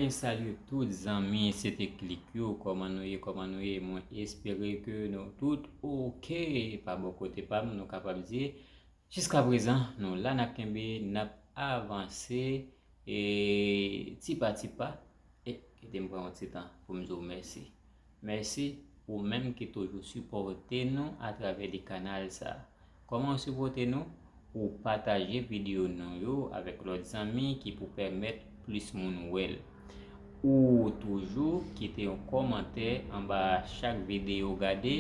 Mwen salye tout zanmi CT click yo, kòman nou ye, kòman nou ye, mwen espere ke nou tout ok, pa bò kote pa m nou kapab di, jiska prezan nou la n ap kenbe, n ap avanse e ti pa ti pa, e kite m pran yon ti tan pou m di w mèsi. Mèsi ou menm ki toujou sipòte nou atravè de kanal sa. Kòman ou sipòte nou? Ou pataje videyo nou yo avèk lòt zanmi ki pou pèmèt plis moun wè l. Ou toujou kite yon kòmantè anba chak videyo ou gade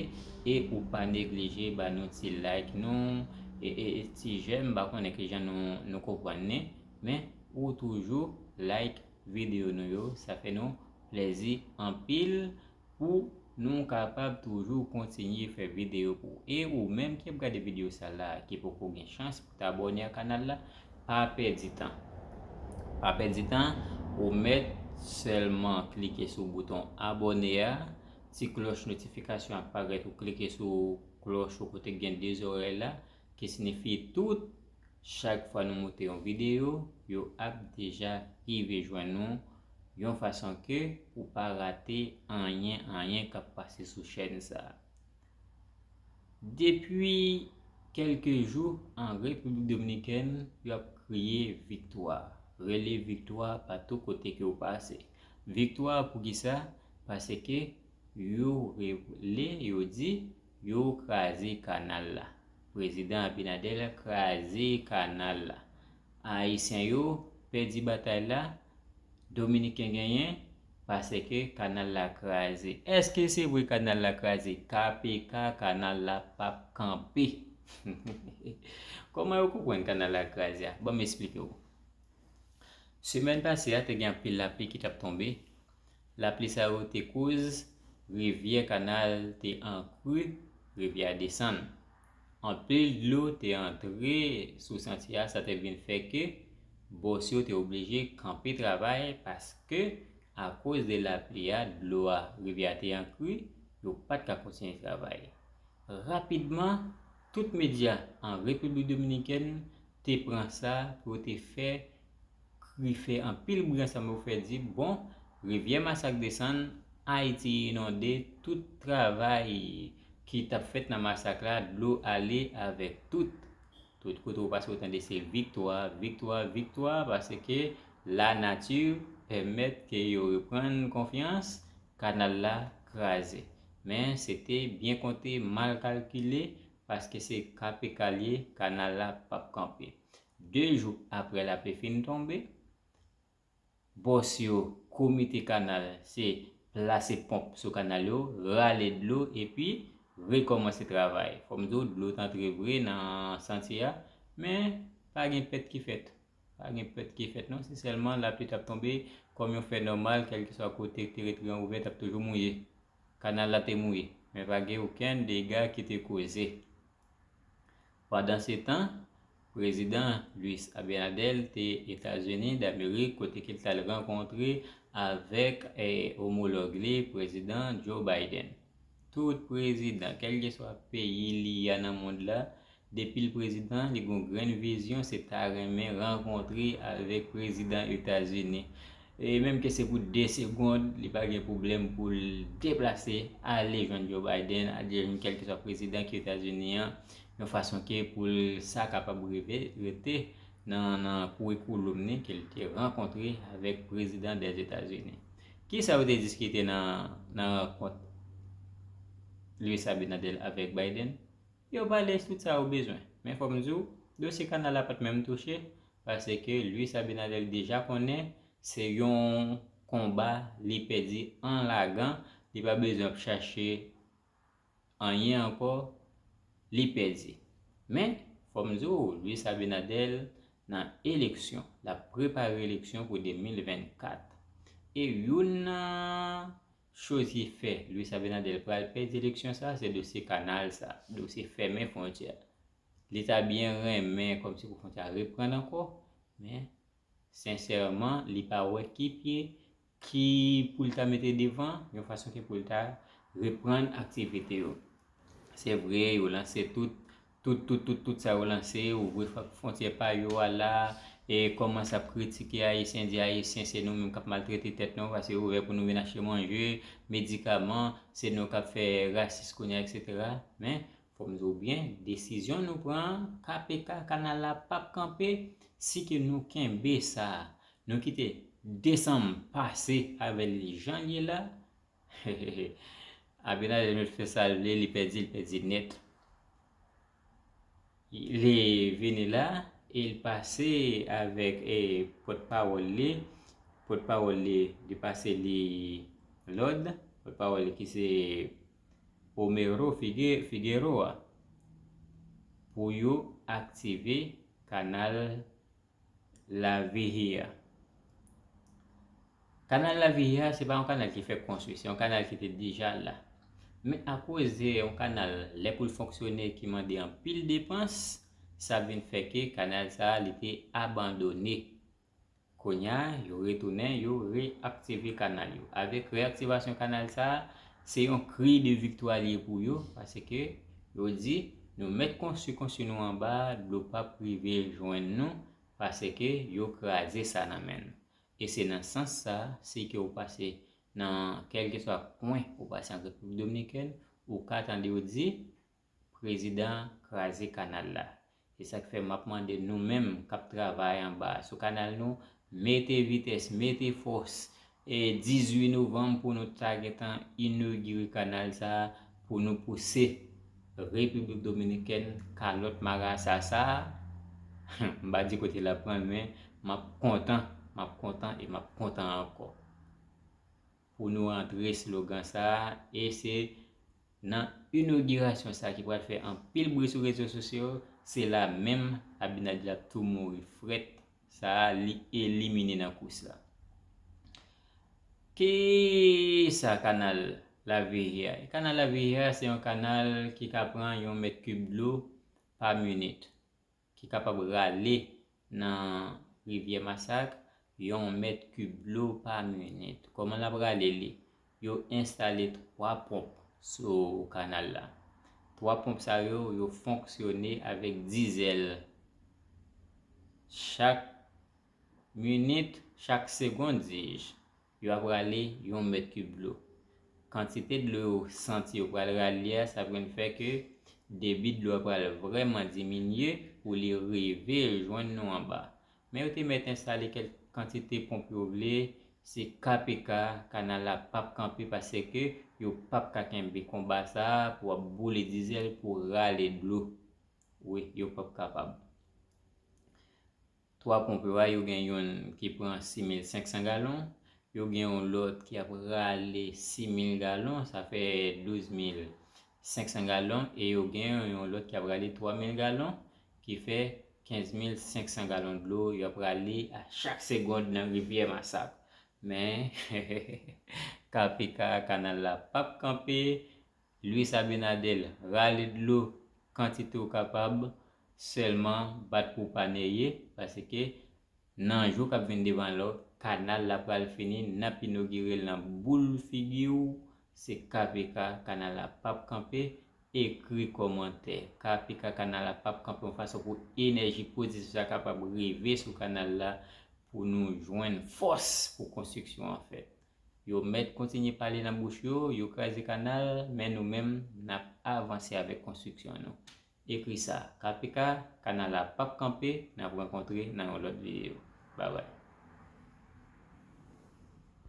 e ou pa neglije ba nou ti like nou e ti jèm m pa konnen kijan nou konprann li men ou toujou like video nou yo sa fè nou plèzi anpil pou nou kapab toujou kontinye fè video pou e ou menm ki ap gade video sa la ki poko gen chans pou ta abòne a kanal la pa pèdi tan pa pèdi tan ou mèt sèlman klike sou bouton abòne a ti klòch notifikasyon ap parèt ou klike sou klòch ou kote gen 2 zòrèy la Ki sinifi tout chak fwa nou moute yon videyo yo ap deja rive jwenn nou yon fason ke ou pa rate anyen anyen kap pase sou chèn sa. Depi kelke jou an Repiblik Dominikèn yo ap kriye viktwa, rele viktwa pa tou kote ke ou pase. Viktwa poukisa? Pase ke yo rele yo di Yo kraze kanal la. Prezidan Abinader kraze kanal la. Ayisyen yo pèdi batay la, Dominiken genyen, paseke kanal la kraze. Eske se vre kanal la kraze? KPK kanal la pap kanpe. Koman yo konprann kanal la kraze a? Banm esplike w. Semèn pase a te gen anpil lapli ki tap tonbe, Lapli sa yo te koz rivyè kanal te an kru, rivyè a desann. Anpil dlo te antre sou santye a sa te vin fè ke bòs yo te oblije kanpe travay paske akoz de lapli a dlo a rivyè a te an kru yo pat ka kontinye travay. Rapidman tout medya an Repiblik Dominikèn te pran sa pou yo te fè Kri fè anpil bri ansanm yo fè di bon, rivyè masak desann, Ayiti inonde, tout travay ki t ap fèt nan masak la dlo ale avèk tout, tout kote ou pase ou tande se viktwa, viktwa, viktwa paske lanati pèmèt ke yo reprann konfyans, kanal la kraze. Men se te byen konte mal kalkile paske se KPK l ye, kanal la p ap kanpe. 2 jou aprè lapli fin tonbe, bòs yo, komite kanal se plase ponp sou kanal yo, rale dlo epi rekòmanse travay. Fò m di w dlo t antre vre nan santye a, men pa gen pèt ki fèt. Pa gen pèt ki fèt non, se sèlman lapli t ap tonbe kòm yon fè nòmal kèlkeswa kote teretriyan ouvè t ap toujou mouye. Kanal la te mouye, men pa gen okenn dega ki te koze. Pandansetan, Prezidan Luis Abinader te Etazini Damerik kote ke l tal rankontre avèk omològ li Prezidan Joe Biden. Tout prezidan, kèlkeswa peyi li a nan mond la, depi l prezidan, li gon grenn vizyon se ta renmen rankontre avèk Prezidan Etazini. E menm ke se pou 2 segond, li pa gen pwoblèm pou l deplase ale jwenn Joe Biden, ale jwenn kèlkeswa prezidan ke Etazini an, yon fason ke pou l sa kapab rive, rete nan kourikouloum ni ke l te rankontre avèk prezidan dè Etazini. Kisa yo te diskite nan rankont Luis Abinader avèk Biden? Yo pale tout sa yo bezwen. Men fò m di w, dosye kanal la pa t menm touche, Paske Luis Abinader deja konnen se yon konba li pèdi an lagan, li pa bezwen ap chache anyen ankò, li pèdi. Men, fò m di w, Luis Abinader nan eleksyon, l ap prepare eleksyon pou 2024. E youn nan choz ki fè Luis Abinader pral pèdi eleksyon sa, se dosye kanal sa, dosye fèmen fwontyè. Li ta byen renmen kòmsi pou fon ta reprann ankò, men sensèman li pa wè ki pye ki pou l ta mete devan yon fason ki pou l ta reprann aktivite yo. Se vre yo lanse tout, tout, tout, tout, tout sa yo lanse, ouvri fontyè pa yo a la, e kòmanse ap kritike Ayisyen, di Ayisyen se nou menm k ap maltrete tèt nou paske yo ouvè pou nou vin achte manje, medikaman, se nou k ap fè rasis kounye a, eksetera. Men, Fòm di w byen, desizyon nou pran an, KPK, kanal la pap kanpe, si ke nou kenbe sa, nou kite desanm pase avè li jan l ye la, hehehe, Abinader met fè sa l vle, li pèdi, li pèdi nèt. Li vini la, e l pase avèk pòt pawòl li, pòt pawòl li, li pase li lòd, pòt pawòl li ki se Romero Figueroa pou yo aktive kanal La Vigía. Kanal La Vigía se pa yon kanal ki fèk konstwi, se yon kanal ki te deja la. Men akoze yon kanal lè pou l fonksyone ki mande anpil depans, sa vin fè ke kanal sa li te abandone Kounya yo retounen, yo re-aktive kanal yo. Avèk re-aktivasyon kanal sa a, se yon kri de viktwa li ye pou yo, paske yo di, nou mèt konstwi konstwi nou anba a, dlo pa p rive jwenn nou, paske yo kraze sa nan men nou. E se nan sans sa a, si ke ou pase nan kèlkeswa kwen ou pase an Repiblik Dominikèn, ou ka tande yo di, Prezidan kraze kanal la. E sak fè map mande nou menm kap travay anba sou kanal nou mete vitès mete fòs e 18 novanm pou nou ta gentan inogire kanal sa pou nou pouse repiblik dominikèn kalòt marasa sa humm m pa di kote lap pran men map kontan map kontan e map kontan ankò. pou nou antre slogan sa a e se nan inogirasyon sa ki pral fè anpil bri sou rezo sosyo se la menm Abinader tou mouri frèt sa a li elimine nan kous la. Ki sa kanal Lavihi a ye? Kanal Lavihi a se yon kanal ki ka pran yon mèt kib dlo pa minit. ki kapab rale nan rivyè Masak yon mèt kib dlo pa minit. Kòman l ap rale li? Yo enstale 3 ponp sou kanal la. 3 ponp sa yo, yo fonksyone avèk dizèl. Chak minit, chak segond, di-je, Yo ap rale yon mèt kib dlo. Kantite dlo yo santi yo pral rale a, sa pral fè ke debi dlo a pral vrèman diminye pou li rive jwenn nou anba. Men yo te mèt enstale kèlk kantite ponp yo vle, se ka pe ka, kanal la p ap kanpe paseke yo p ap ka kenbe konba sa a pou ap boule dizèl pou rale dlo. Wi, yo p ap kapab. Twa ponp yo a, yo gen youn ki pran 6500 galon, yo gen yon lòt ki ap rale 6000 galon, sa fè 12500 galon, e yo gen yon lòt ki ap rale 3000 galon, ki fè 15500 galon dlo yo ap rale a chak segond nan rivyè Masak. Men, KPK, kanal la p ap kanpe, Luis Abinadel rale dlo kantite w kapab sèlman bat pou w pa neye paske nan jou kap vin devan la kanal la pral fini nap inogire l nan boul figi w se KPK kanal la pap kanpe ekri kòmantè KPK kanal la pap kanpe yon fason pou enèji pozitif sa kapab rive sou kanal la pou nou jwenn fòs pou konstriksyon an fèt. Yo mèt kontinye pale nan bouch yo, yo kraze kanal, men nou menm n ap avanse avèk konstriksyon nou. Ekri sa, KPK, kanal la pap kanpe, n ap rankontre nan yon lòt videyo. Babay.